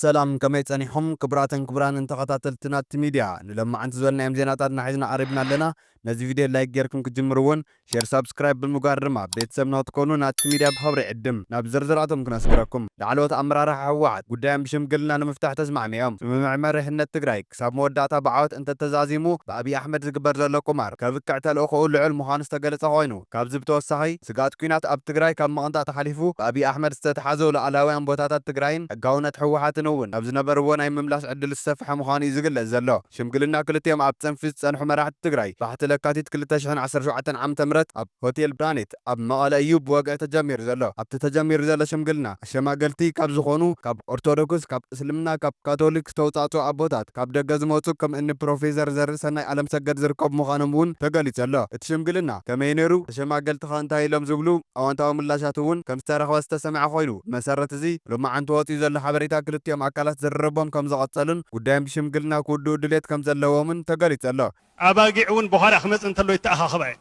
ሰላም ከመይ ጸኒሑም ክቡራትን ክቡራንን ተኸታተልቲ ናቲ ሚድያ ንሎማዓንቲ ዝበልናዮም ዜናታትና ሒዝና ቐሪብና ኣለና ነዚ ቪድዮ ላይክ ጌርኩም ክትጅምሩ ውን ሼር ሳብስክራይብ ብምግባር ድማ ቤተሰብና ክትኮኑ ናቲ ሚድያ ብኽብሪ ይዕድም ናብ ዝርዝር ኣቶም ክነስግረኩም ላዕለዎት ኣመራርሓ ህወሓት ጉዳዮም ብሽምግልና ንምፍታሕ ተስማዕሚዕም ስምምዕ መሪሕነት ትግራይ ክሳብ መወዳእታ ብዓወት እንተተዛዚሙ ብኣብይ ኣሕመድ ዝግበር ዘሎ ቁማር ከብቅዕ ተልእኾኡ ልዑል ምዃኑ ዝተገለፀ ኮይኑ ካብዚ ብተወሳኺ ስግኣት ኲናት ኣብ ትግራይ ካብ ምቕንጣጥ ሓሊፉ ብኣብይ ኣሕመድ ዝተትሓዙ ሉኣላውያን ቦታታት ትግራይን ሕጋውነት ህወሓትን እውን ናብ ዝነበርዎ ናይ ምምላስ ዕድል ዝሰፈሐ ምዃኑ እዩ ዝግለፅ ዘሎ። ሽምግልና ክልቲኦም ኣብ ፅንፊ ዝፀንሑ መራሕቲ ትግራይ ባሕቲ ለካቲት ክልተ ሽሕን ዓሰርተ ሸውዓተን ዓመተ ምህረት ኣብ ሆቴል ፕላኔት ኣብ መቐለ እዩ ብወግዒ ተጀሚሩ ዘሎ። ኣብቲ ተጀሚሩ ዘሎ ሽምግልና ኣሸማገልቲ ካብ ዝኾኑ ካብ ኦርቶዶክስ፣ ካብ እስልምና፣ ካብ ካቶሊክ ዝተውፃእፅኡ ኣቦታት፣ ካብ ደገ ዝመፁ ከም እኒ ፕሮፌሰር ዘርእሰናይ ኣለምሰገድ ዝርከቡ ምዃኖም እውን ተገሊፁ ኣሎ። እቲ ሽምግልና ከመይ ነይሩ? ተሸማገልቲ ኸ እንታይ ኢሎም ዝብሉ ኣወንታዊ ምላሻት እውን ከም ዝተረኽበ ዝተሰምዐ ኮይኑ ብመሰረት እዚ ሎማዕንቲ ወፂኡ ዘሎ ሓበሬታ ክልቲኦም ኣካላት ዝርርቦም ከም ዝቐፀሉን ጉዳዮም ብሽምግልና ክውድኡ ድልየት ከም ዘለዎምን ተገሊፁ ኣሎ። ኣባጊዕ እውን ብዃላ ክመፅእ እንተሎ ይተኣኻኸባ እየን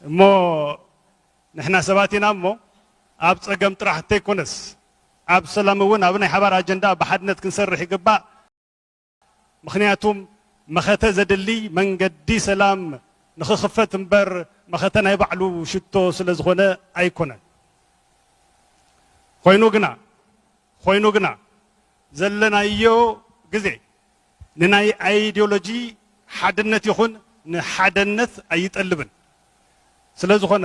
እሞ ንሕና ሰባት ኢና እሞ ኣብ ፀገም ጥራሕ እንተይኮነስ ኣብ ሰላም እውን ኣብ ናይ ሓባር ኣጀንዳ ብሓድነት ክንሰርሕ ይግባእ። ምኽንያቱም መኸተ ዘድሊ መንገዲ ሰላም ንኽኽፈት እምበር መኸተ ናይ ባዕሉ ሽቶ ስለ ዝኾነ ኣይኮነን። ኮይኑ ግና ኮይኑ ግና ዘለናዮ ግዜ ንናይ ኣይዲዮሎጂ ሓድነት ይኹን ንሓደነት ኣይጠልብን ስለዝኾነ፣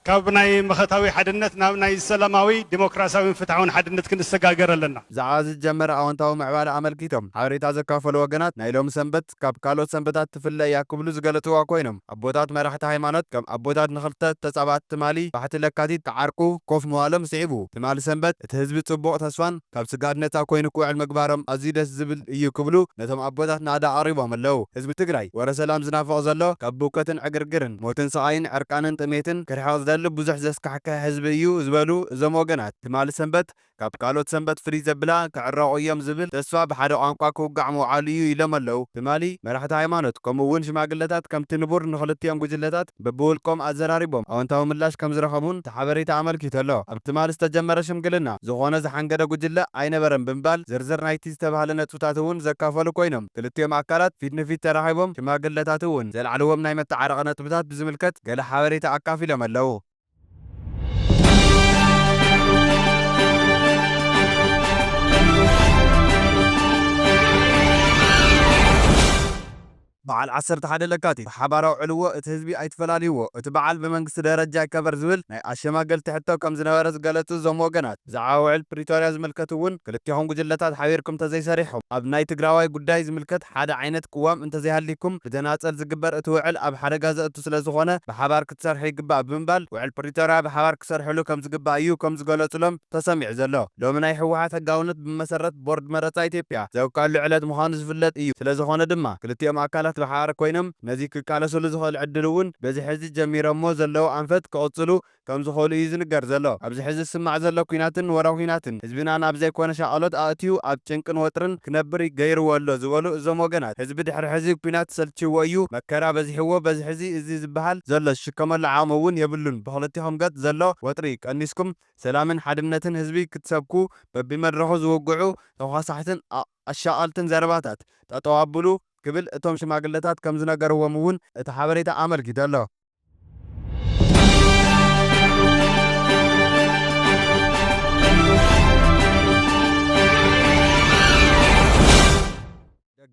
ካብ ናይ መኸታዊ ሓድነት ናብ ናይ ሰላማዊ፣ ዲሞክራሲያዊን ፍትሓውን ሓድነት ክንሰጋገር ኣለና። ብዛዕባ ዝጀመረ ኣወንታዊ ምዕባለ ኣመልኪቶም ሓበሬታ ዘካፈሉ ወገናት፣ ናይ ሎሚ ሰንበት ካብ ካልኦት ሰንበታት ትፍለ እያ ክብሉ ዝገለፅዋ ኮይኖም፣ ኣቦታት መራሕቲ ሃይማኖት ከም ኣቦታት ንኽልተ ተፃባእቲ ትማሊ ባሕቲ ለካቲት ክዓርቁ ኮፍ ምባሎም ስዒቡ ትማሊ ሰንበት፣ እቲ ህዝቢ ፅቡቕ ተስፋን ካብ ስግኣት ነፃ ኮይኑ ክውዕል ምግባሮም ኣዝዩ ደስ ዝብል እዩ ክብሉ ነቶም ኣቦታት ናእዳ ኣቕሪቦም ኣለው። ህዝቢ ትግራይ ወረ ሰላም ዝናፍቕ ዘሎ ካብ ብውከትን ዕግርግርን፣ ሞትን ስቓይን፣ ዕርቃንን ጥሜትን ክርሕቕ ዝደሊ ብዙሕ ዘስካሕክሕ ህዝቢ እዩ ዝበሉ እዞም ወገናት ትማሊ ሰንበት ካብ ካልኦት ሰንበት ፍልይ ዘብላ ክዕረቑ እዮም ዝብል ተስፋ ብሓደ ቋንቋ ክውጋዕ ምውዓሉ እዩ ኢሎም ኣለው። ትማሊ መራሕቲ ሃይማኖት ከምኡ እውን ሽማግለታት ከምቲ ንቡር ንኽልቲኦም ጉጅለታት በብውልቆም ኣዘራሪቦም ኣወንታዊ ምላሽ ከምዝረኸቡን እቲ ሓበሬታ ኣመልኪቱ'ሎ። ኣብ ትማሊ ዝተጀመረ ሽምግልና፣ ዝኾነ ዝሓንገደ ጉጅለ ኣይነበረን ብምባል፣ ዝርዝር ናይ'ቲ ዝተባህለ ነጥብታት'ውን ዘካፈሉ ኮይኖም፣ ክልቲኦም ኣካላት ፊት ንፊት ተራኺቦም፣ ሽማግለታት'ውን ዘልዓልዎም ናይ መተዓረቒ ነጥብታት ብዝምልከት ገለ ሓበሬታ ኣካፊሎም ኣለው። በዓል ዓሰርተ ሓደ ለካቲት ብሓባራዊ ዕልዎ እቲ ህዝቢ ኣይትፈላልይዎ፣ እቲ በዓል ብመንግስቲ ደረጃ ይከበር ዝብል ናይ ኣሸማገልቲ ሕቶ ከምዝነበረ ዝገለፁ እዞም ወገናት፣ ብዛዕባ ውዕል ፕሪቶርያ ዝምልከት እውን ክልቴኹም ጉጅለታት ሓቢርኩም እንተዘይሰሪሕኹም፣ ኣብ ናይ ትግራዋይ ጉዳይ ዝምልከት ሓደ ዓይነት ቅዋም እንተዘይሃልይኩም ብተናፀል ዝግበር እቲ ውዕል ኣብ ሓደጋ ዘእቱ ስለዝኾነ ብሓባር ክሰርሑ ይግባእ ብምባል ውዕል ፕሪቶርያ ብሓባር ክሰርሕሉ ከምዝግባእ እዩ ከምዝገለፁሎም ተሰሚዑ ዘሎ። ሎሚ ናይ ህወሓት ሕጋውነት ብመሰረት ቦርድ መረፃ ኢትዮጵያ ዘብቅዐሉ ዕለት ምዃኑ ዝፍለጥ እዩ። ስለዝኾነ ድማ ክልቲኦም ኣካላት ብሓባር ኮይኖም ነዚ ክቃለስሉ ዝኽእል ዕድል እውን በዚ ሕዚ ጀሚረሞ ዘለዉ ኣንፈት ክቕፅሉ ከምዝኽእሉ እዩ ዝንገር ዘሎ። ኣብዚ ሕዚ ዝስማዕ ዘሎ ኲናትን ወረ ኲናትን ህዝብና ናብ ዘይኮነ ሻቐሎት ኣእትዩ ኣብ ጭንቅን ወጥርን ክነብር ገይርዎ ኣሎ ዝበሉ እዞም ወገናት፣ ህዝቢ ድሕሪ ሕዚ ኲናት ሰልቺዎ እዩ፣ መከራ በዚሕዎ በዚ ሕዚ እዚ ዝበሃል ዘሎ ዝሽከመሉ ዓቕሚ እውን የብሉን፣ ብኽልቲኹም ገፅ ዘሎ ወጥሪ ቀኒስኩም ሰላምን ሓድነትን ህዝቢ ክትሰብኩ በቢመድረኹ ዝውግዑ ተዃሳሕትን ኣሻቐልትን ዘረባታት ጠጠው ኣብሉ ክብል እቶም ሽማግለታት ከምዝነገርዎም እውን እቲ ሓበሬታ ኣመልኪቱ ኣሎ።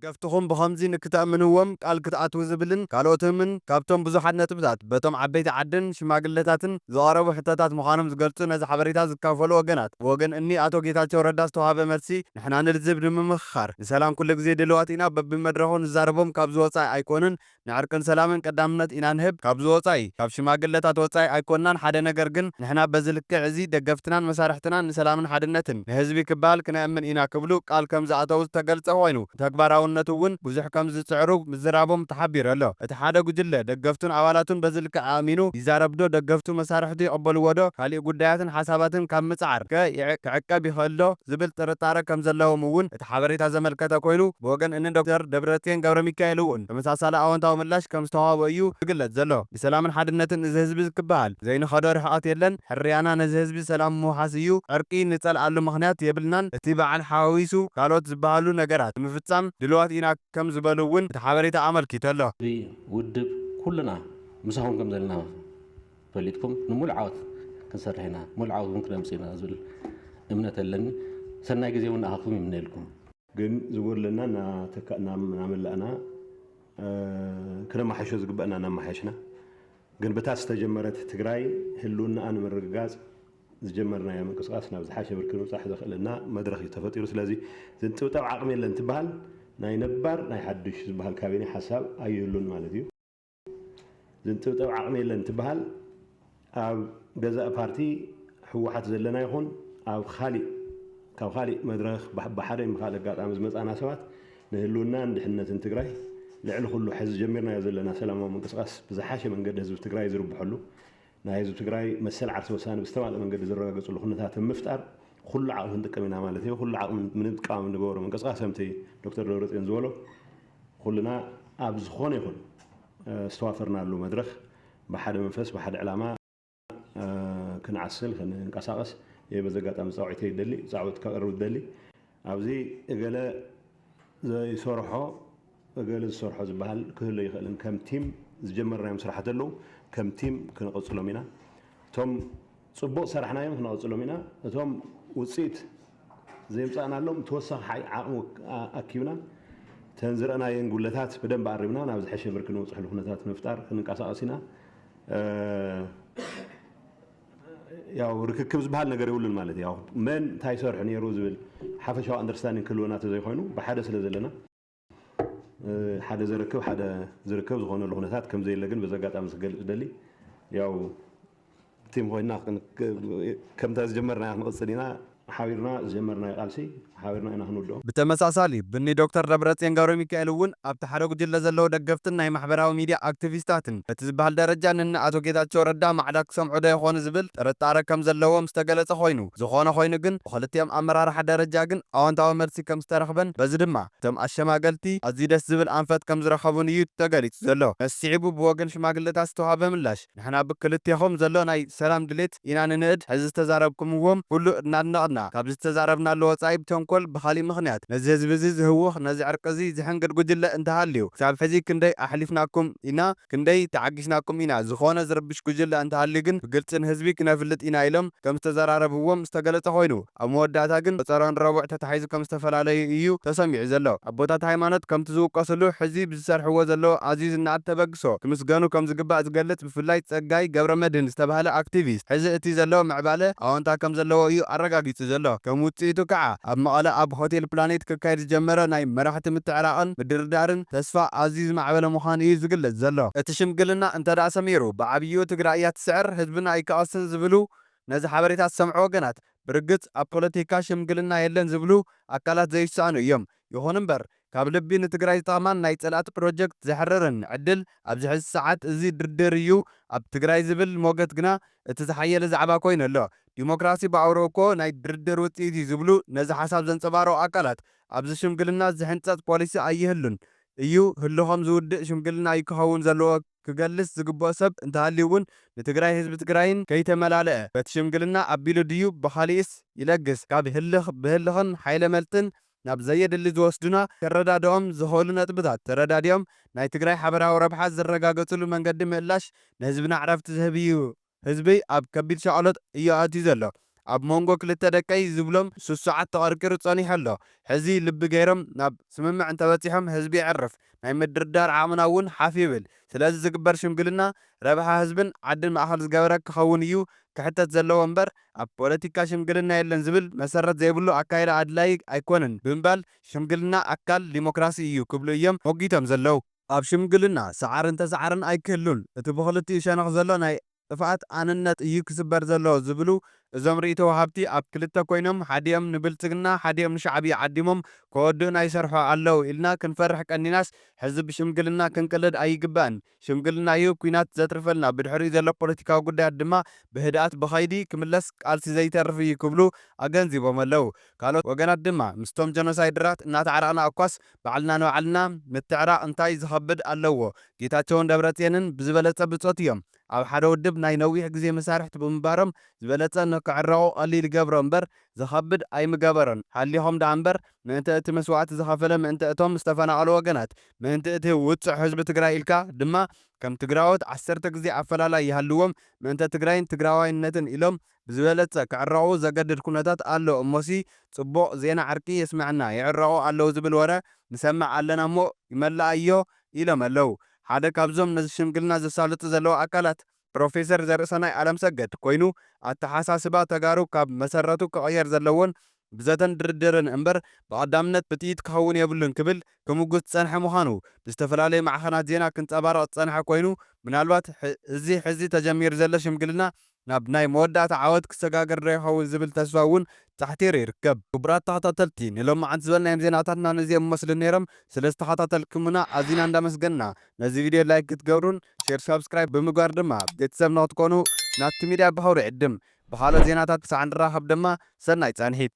ደገፍትኹም ብኸምዚ ንክተእምንዎም ቃል ክትኣትዉ ዝብልን ካልኦትምን ካብቶም ብዙሓት ነጥብታት በቶም ዓበይቲ ዓድን ሽማግለታትን ዝቐረቡ ሕቶታት ምዃኖም ዝገልጹ ነዚ ሓበሬታ ዝካፈሉ ወገናት ብወገን እኒ ኣቶ ጌታቸው ረዳ ዝተውሃበ መልሲ ንሕና ንልዝብ ንምምኽኻር ንሰላም ኩልግዜ ድልዋት ኢና በብመድረኹ ንዛረቦም ካብዚ ወጻኢ ኣይኮኑን ንዕርቅን ሰላምን ቀዳምነት ኢና ንህብ ካብዚ ወጻኢ ካብ ሽማግለታት ወጻኢ ኣይኮናን ሓደ ነገር ግን ንሕና በዚ ልክዕ እዚ ደገፍትናን መሳርሕትናን ንሰላምን ሓድነትን ንህዝቢ ክበሃል ክነእምን ኢና ክብሉ ቃል ከም ዝኣተዉ ዝተገልጸ ኮይኑ ንተግባራውነቱ ውን ብዙሕ ከም ዝጽዕሩ ምዝራቦም ተሓቢሩ ኣሎ እቲ ሓደ ጉጅለ ደገፍቱን ኣባላቱን በዚ ልክዕ ኣእሚኑ ይዛረብ ዶ ደገፍቱ መሳርሕቱ ይቕበልዎ ዶ ካሊእ ጉዳያትን ሓሳባትን ካብ ምጽዓር ከ ክዕቀብ ይኽእል ዶ ዝብል ጥርጣረ ከም ዘለዎም ውን እቲ ሓበሬታ ዘመልከተ ኮይኑ፣ ብወገን እኒ ዶክተር ደብረጽዮን ገብረሚካኤል እውን ተመሳሳሊ ኣወንታዊ ምላሽ ከም ዝተዋህቦ እዩ ዝግለጽ ዘሎ። ብሰላምን ሓድነትን እዚ ህዝቢ ክበሃል ዘይንኸዶ ርሕቐት የለን፣ ሕርያና ነዚ ህዝቢ ሰላም ምውሓስ እዩ፣ ዕርቂ ንጸልኣሉ ምኽንያት የብልናን፣ እቲ በዓል ሓዋዊሱ ካልኦት ዝበሃሉ ነገራት ንምፍጻም ድሉዋት ኢና ከም ዝበሉ እውን እቲ ሓበሬታ ኣመልኪቱ ኣሎ። ህዝቢ፣ ውድብ፣ ኩልና ምሳኹም ከም ዘለና። ፈሊጥኩም ንሙሉእ ዓወት ክንሰርሕ ኢና ሙሉእ ዓወት ውን ክነምፅእ ኢና ዝብል እምነት ኣለኒ ሰናይ ግዜ ውን ንኣኻትኩም ይምነየልኩም። ግን ዝጎድለና እናተካእናእናመላእና ክነማሓይሾ ዝግበእና እናማሓየሽና ግን ብታ ዝተጀመረት ትግራይ ህልውናኣ ንምርግጋፅ ዝጀመርናዮ ምንቅስቃስ ናብ ዝሓሸ ብርኪ ንምብፃሕ ዘኽእለና መድረኽ እዩ ተፈጢሩ ስለዚ ዝንጥብጠብ ዓቕሚ የለን እንትበሃል ናይ ነባር ናይ ሓዱሽ ዝበሃል ካቢኔ ሓሳብ ኣይህሉን ማለት እዩ። ዝንጥብጠብ ዓቕሚ የለን እንትበሃል ኣብ ገዛእ ፓርቲ ህወሓት ዘለና ይኹን ኣብ ካሊእ ካብ ካሊእ መድረኽ ብሓደ ወይ ብካልእ ኣጋጣሚ ዝመፃና ሰባት ንህልውናን ድሕነትን ትግራይ ልዕሊ ኩሉ ሕዚ ጀሚርናዮ ዘለና ሰላማዊ ምንቅስቓስ ብዝሓሸ መንገዲ ህዝቢ ትግራይ ዝርብሐሉ ናይ ህዝቢ ትግራይ መሰል ዓርሰ ውሳነ ብዝተማልእ መንገዲ ዝረጋገፅሉ ኩነታት ኣብ ምፍጣር ኹሉ ዓቕሚ ክንጥቀም ኢና ማለት እዮ። ኹሉ ዓቕሚ ንምጥቃም እንገብሮ ምንቅስቓስ ከምቲ ዶክተር ደብረፅዮን ዝበሎ ኹልና ኣብ ዝኾነ ይኹን ዝተዋፈርናሉ መድረኽ ብሓደ መንፈስ ብሓደ ዕላማ ክንዓስል ክንንቀሳቐስ እየ በዚ ኣጋጣሚ ፃውዒተይ ደሊ ፃውዒት ከቕርብ ዝደሊ። ኣብዚ እገለ ዘይሰርሖ እገለ ዝሰርሖ ዝበሃል ክህሉ ኣይኽእልን። ከም ቲም ዝጀመርናዮም ስራሕቲ ኣለዉ። ከም ቲም ክንቕፅሎም ኢና። እቶም ፅቡቕ ዝሰራሕናዮም ክነቕፅሎም ኢና። እቶም ውፅኢት ዘየምፃእናሎም ተወሳኺ ዓቕሚ ኣኪብና እተን ዝረእናየን ጉድለታት ብደንቢ ኣሪምና ናብ ዝሐሸ ብርኪ ንበፅሐሉ ኩነታት ንምፍጣር ክንንቀሳቐስ ኢና። ያው ርክክብ ዝበሃል ነገር የብሉን ማለት ያው መን እንታይ ይሰርሑ ነይሩ ዝብል ሓፈሻዊ ኣንደርስታንዲንግ ክህልወና ተዘይኮይኑ ብሓደ ስለ ዘለና ሓደ ዘረክብ ሓደ ዝርከብ ዝኾነሉ ኩነታት ከም ዘየለ ግን በዚ ኣጋጣሚ ክገልፅ ደሊ ያው ቲም ኮይና ከምታ ዝጀመርና ክንቕፅል ኢና ሓቢርና ዝጀመርናዮ ቃልሲ ሓቢርና ኢና ክንውድኦ። ብተመሳሳሊ፣ ብኒ ዶክተር ደብረጽዮን ገብረሚካኤል እውን ኣብቲ ሓደ ጉጅለ ዘለዉ ደገፍትን ናይ ማሕበራዊ ሚድያ ኣክቲቪስታትን በቲ ዝበሃል ደረጃ ንእኒ ኣቶ ጌታቸው ረዳ ማዕዳ ክሰምዑ'ዶ ይኾኑ ዝብል ጥርጣረ ከም ዘለዎም ዝተገለጸ ኮይኑ፣ ዝኾነ ኮይኑ ግን ብኽልቲኦም ኣመራርሓ ደረጃ ግን ኣወንታዊ መልሲ ከም ዝተረኽበን በዚ ድማ እቶም ኣሸማገልቲ ኣዝዩ ደስ ዝብል ኣንፈት ከም ዝረኸቡን እዩ ተገሊጹ ዘሎ። ስዒቡ ብወገን ሽማግለታት ዝተውሃበ ምላሽ። ንሕና ብክልቴኹም ዘሎ ናይ ሰላም ድሌት ኢና ንንእድ፣ ሕዚ ዝተዛረብኩምዎ ኩሉ እናድነቕና፣ ካብዚ ዝተዛረብናሉ ወጻኢ ብተንኮል ብኻሊእ ምኽንያት ነዚ ህዝቢዚ ዝህውኽ ነዚ ዕርቂዚ ዝሕንግድ ጉጅለ እንተሃልዩ ክሳብ ሕዚ ክንደይ ኣሕሊፍናኩም ኢና ክንደይ ተዓጊስናኩም ኢና ዝኾነ ዝርብሽ ጉጅለ እንተሃልዩ ግን ብግልጺ ንህዝቢ ክነፍልጥ ኢና ኢሎም ከምዝተዘራረብዎም ዝተገለጸ ኮይኑ ኣብ መወዳእታ ግን ቆጸራን ረቡዕ ተታሒዙ ከም ዝተፈላለዩ እዩ ተሰሚዑ ዘሎ። ኣቦታት ሃይማኖት ከምቲ ዝውቀስሉ ሕዚ ብዝሰርሕዎ ዘለዉ ኣዝዩ ዝነኣድ ተበግሶ ክምስገኑ ከም ዝግባእ ዝገልጽ ብፍላይ ጸጋይ ገብረመድህን ዝተባህለ ኣክቲቪስት ሕዚ እቲ ዘሎ ምዕባለ ኣወንታ ከም ዘለዎ እዩ ኣረጋጊጹ ዘሎ። ከም ውጽኢቱ ከኣ ኣብ መቐለ ኣብ ሆቴል ፕላኔት ክካየድ ዝጀመረ ናይ መራሕቲ ምትዕራቕን ምድርዳርን ተስፋ ኣዝዩ ዝማዕበለ ምዃኑ እዩ ዝግለጽ ዘሎ። እቲ ሽምግልና እንተድኣ ሰሚሩ ብዓብይኡ ትግራይ እያ ትስዕር ህዝብና ኣይክቐስን ዝብሉ ነዚ ሓበሬታ ዝሰምዑ ወገናት ብርግጽ ኣብ ፖለቲካ ሽምግልና የለን ዝብሉ ኣካላት ዘይሰኣኑ እዮም። ይኹን እምበር ካብ ልቢ ንትግራይ ዝጠቕማን ናይ ጸላእቲ ፕሮጀክት ዘሕርርን ዕድል ኣብዚ ሕዚ ሰዓት እዚ ድርድር እዩ ኣብ ትግራይ ዝብል ሞገት ግና እቲ ዝሓየለ ዛዕባ ኮይኑ ኣሎ። ዲሞክራሲ ብኣውርኡ እኮ ናይ ድርድር ውጽኢት እዩ ዝብሉ ነዚ ሓሳብ ዘንጸባርቑ ኣካላት ኣብዚ ሽምግልና ዝሕንጸጽ ፖሊሲ ኣይህሉን እዩ ህልኾም ዝውድእ ሽምግልና እዩ ክኸውን ዘለዎ ክገልጽ ዝግብኦ ሰብ እንተሃልዩ ውን ንትግራይ ህዝቢ ትግራይን ከይተመላልኣ በቲ ሽምግልና ኣቢሉ ድዩ ብኻሊእስ ይለግስ ካብ ህልኽ ብህልኽን ሓይለ መልጥን ናብ ዘየድሊ ዝወስዱና ከረዳድኦም ዝኽእሉ ነጥብታት ተረዳዲኦም ናይ ትግራይ ሓበራዊ ረብሓ ዝረጋገጽሉ መንገዲ ምእላሽ ንህዝብና ዕረፍቲ ዝህብ እዩ ህዝበይ ኣብ ከቢድ ሻቕሎት እዩ ኣትዩ ዘሎ። ኣብ ሞንጎ ክልተ ደቀይ ዝብሎም ስሱዓት ተቐርቂሩ ጸኒሑ ኣሎ። ሕዚ ልቢ ገይሮም ናብ ስምምዕ እንተበጺሖም ህዝቢ የዕርፍ፣ ናይ ምድርዳር ዓቕምና እውን ሓፍ ይብል። ስለዚ ዝግበር ሽምግልና ረብሓ ህዝብን ዓድን ማእከል ዝገበረ ክኸውን እዩ ክሕተት ዘለዎ እምበር ኣብ ፖለቲካ ሽምግልና የለን ዝብል መሰረት ዘይብሉ ኣካይዳ ኣድላዪ ኣይኮነን ብምባል ሽምግልና ኣካል ዲሞክራሲ እዩ ክብሉ እዮም ሞጊቶም ዘለዉ። ኣብ ሽምግልና ሰዓርን ተሰዓርን ኣይክህሉን፣ እቲ ብኽልቲኡ ሸነኽ ዘሎ ናይ ጥፍኣት ኣንነት እዩ ክስበር ዘለዎ ዝብሉ እዞም ርኢቶ ወሃብቲ፣ ኣብ ክልተ ኮይኖም ሓዲኦም ንብልጽግና ሓዲኦም ንሻዕብያ ዓዲሞም ከወድኡና ይሰርሑ ኣለዉ ኢልና ክንፈርሕ ቀኒናስ ሕዚ ብሽምግልና ክንቅለድ ኣይግባእን። ሽምግልና እዩ ኲናት ዘትርፈልና፣ ብድሕሪኡ ዘሎ ፖለቲካዊ ጉዳያት ድማ ብህድኣት ብኸይዲ ክምለስ ቃልሲ ዘይተርፍ እዩ ክብሉ ኣገንዚቦም ኣለዉ። ካልኦት ወገናት ድማ ምስቶም ጀኖሳይደራት እናተዓረቕና እኳስ ባዕልና ንባዕልና ምትዕራቅ እንታይ ዝከብድ ኣለዎ ጌታቸውን ደብረፅየንን ብዝበለፀ ብፆት እዮም ኣብ ሓደ ውድብ ናይ ነዊሕ ግዜ መሳርሕቲ ብምንባሮም ዝበለፀ ንክዕረቁ ቀሊል ይገብሮ እምበር ዝከብድ ኣይምገበሮን ሃሊኮም ዳኣ እምበር ምእንተ እቲ መስዋእቲ ዝከፈለ ምእንተ እቶም ዝተፈናቀሉ ወገናት ምእንቲ እቲ ውፁዕ ህዝቢ ትግራይ ኢልካ ድማ ከም ትግራዎት ዓሰርተ ግዜ ኣፈላላይ ይሃልዎም ምእንተ ትግራይን ትግራዋይነትን ኢሎም ብዝበለጸ ክዕረቑ ዘገድድ ኩነታት ኣሎ እሞሲ ጽቡቕ ዜና ዕርቂ የስመዐና ይዕረቑ ኣለዉ ዝብል ወረ ንሰምዕ ኣለና እሞ ይመለኣዮ ኢሎም ኣለዉ ሓደ ካብዞም ነዚ ሽምግልና ዘሳልጡ ዘለዉ ኣካላት ፕሮፌሰር ዘርእሰናይ ኣለምሰገድ ኮይኑ ኣተሓሳስባ ተጋሩ ካብ መሰረቱ ክቕየር ዘለዎን ብዘተን ድርድርን እምበር ብቐዳምነት ብጥይት ክኸውን የብሉን ክብል ክምጉት ዝጸንሐ ምዃኑ ብዝተፈላለዩ ማዕኸናት ዜና ክንጸባረቕ ዝጸንሐ ኮይኑ፣ ምናልባት እዚ ሕዚ ተጀሚሩ ዘሎ ሽምግልና ናብ ናይ መወዳእታ ዓወት ክሰጋገር ዶ ይኸውን ዝብል ተስፋ እውን ጻሕቲሩ ይርከብ። ክቡራት ተኸታተልቲ ንሎምዓንቲ ዝበልናዮም ዜናታትና ነዚኦም ይመስሉ ነይሮም። ስለዝተኸታተልኩምና ኣዚና እንዳመስገንና ነዚ ቪድዮ ላይክ ክትገብሩን ሼር ሳብስክራይብ ብምግባር ድማ ቤተሰብ ንክትኮኑ ናቲ ሚድያ ብኽብሪ እዕድም። ብኻልኦት ዜናታት ክሳዕ ንራኸብ ድማ ሰናይ ጻንሒት።